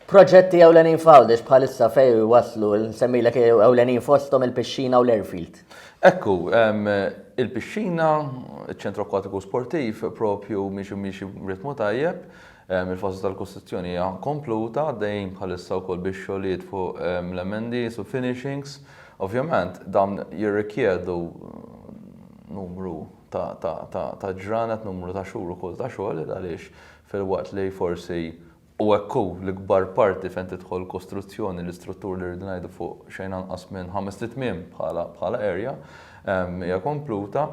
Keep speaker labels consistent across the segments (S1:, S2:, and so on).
S1: Proġetti ewlenin f'Għawdex bħalissa fejn waslu? Nsemmilek ewlenin fosthom il-pixxina u l-airfield. Hekk hu,
S2: il-pixxina, iċ-Ċentru Akkwatiku Sportiv propju miexi miexi b'ritmu tajjeb. Il-fażi tal-kostruzzjoni hija kompluta, għaddejjin bħalissa wkoll bix-xogħlijiet fuq l-emendi u finishings. Ovvjament, dawn jirrikjedu numru ta' ġranet, numru ta' xhur ukoll ta' xogħol għaliex filwaqt li forsi U hekk hu, l-ikbar parti fejn tidħol kostruzzjoni, l-istruttur li rridu ngħidu fuq xejn anqas minn ħamest itmiem bħala bħala area, hija kompluta.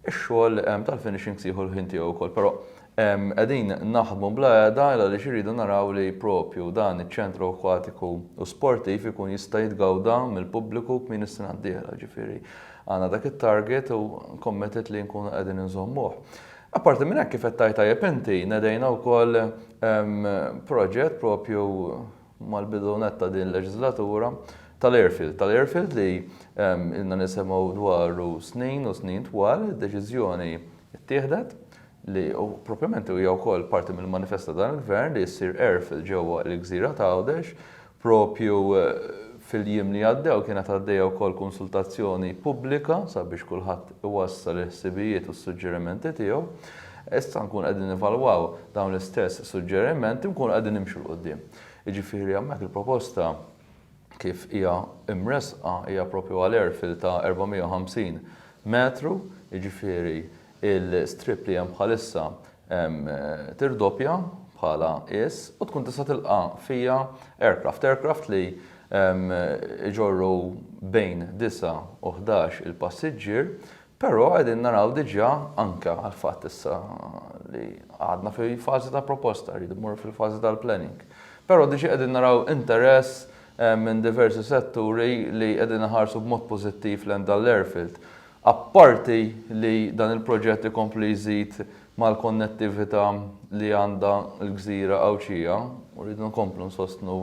S2: Ix-xogħol tal-finishing se jieħu l-ħin tiegħu wkoll. Però qegħdin naħdmu bla qiegħda għaliex irridu naraw li propju dan iċ-ċentru akwatiku u sportiv ikun jista' jitgawda mill-pubbliku kmieni s-sena d-dieħla. Ġifieri għandna dak it-target u committed li nkunu qegħdin inżommuh. Apparti minn hekk, kif qed tgħid tajjeb inti, nedejna wkoll proġett proprju mal-bidu nett ta' din il-leġiżlatura tal-airfield. Tal-airfield li ilna nisimgħu dwaru snin u snin twal, id-deċiżjoni ttieħdet li proprjament hija wkoll parti mill-manifest ta' dan il-Gvern li ssir airfield ġewwa l-gżira t'Għawdex Proprju fil-jiem li għaddew kienet għaddejja wkoll konsultazzjoni pubblika sabiex kulħadd iwassal il-ħsibijiet u s-suġġerimenti tiegħu. Issa nkunu qegħdin nevalwaw dawn l-istess suġġerimenti u nkunu qegħdin nimxu 'l quddiem. Jiġifieri hemmhekk il-proposta kif hija mressqa hija proprju għal airfill ta' 450 metru, jiġifieri l-istrip li hemm bħalissa tirdoppja bħala is u tkun tista' tilqa' fija aircraft. Aircraft li jġorru bejn disa' u ħdax il-passiġġier, però qegħdin naraw diġà anke għall-fatt issa li għadna fi fażi ta' proposta, rridu mmorru fil-fażi tal-planning. Però diġà qegħdin naraw interess minn diversi setturi li qegħdin iħarsu b'mod pożittiv lejn dan l-airfield. Apparti li dan il-proġett ikompli jżid mal-konnettività li għandha l-gżira Għawdxija, u rridu nkomplu nsostnu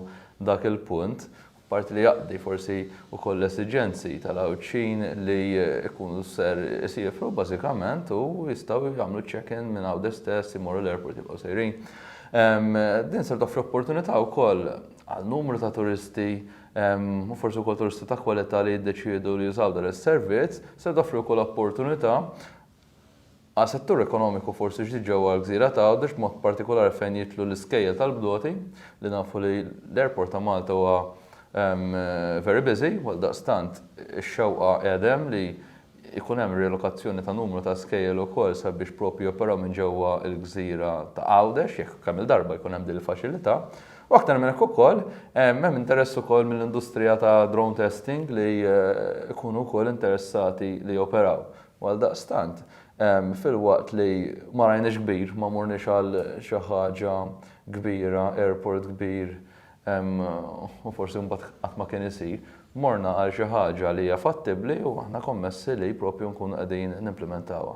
S2: dak il-punt, apparti li jaqdi forsi wkoll l-esiġenzi tal-Għawdxin li jkunu ser isiefru bażikament u jistgħu jagħmlu ċ-check-in minn Għawdex stess, imorru l-airport jibqgħu sejrin. Din ser toffri opportunità wkoll għal numru ta' turisti u forsi wkoll turisti ta' kwalità li jiddeċiedu li jużaw dan is-servizz, se toffri wkoll opportunità għal settur ekonomiku forsi ġdid ġewwa l-gżira ta' Għawdex b'mod partikolari fejn jidħlu l-iskejjel tal-bdoti li nafu li l-airport ta' Malta huwa very busy u għaldaqstant ix-xewqa qiegħda hemm li Ikun hemm rilokazzjoni ta' numru ta' skejjel ukoll sabiex proprju joperaw minn ġewwa l-gżira ta' Għawdex, jekk kemm-il darba jkun hemm din il-faċilità. U aktar minn hekk ukoll, hemm interess ukoll mill-industrija ta' drone testing li jkunu wkoll interessati li joperaw. U għaldaqstant, filwaqt li ma rajniex kbir, ma morniex għal xi ħaġa kbira, airport kbir, u forsi mbagħad qatt ma kien isir, morna għal xi ħaġa li hija fattibbli u aħna kommessi li propju nkunu qegħdin nimplimentawha.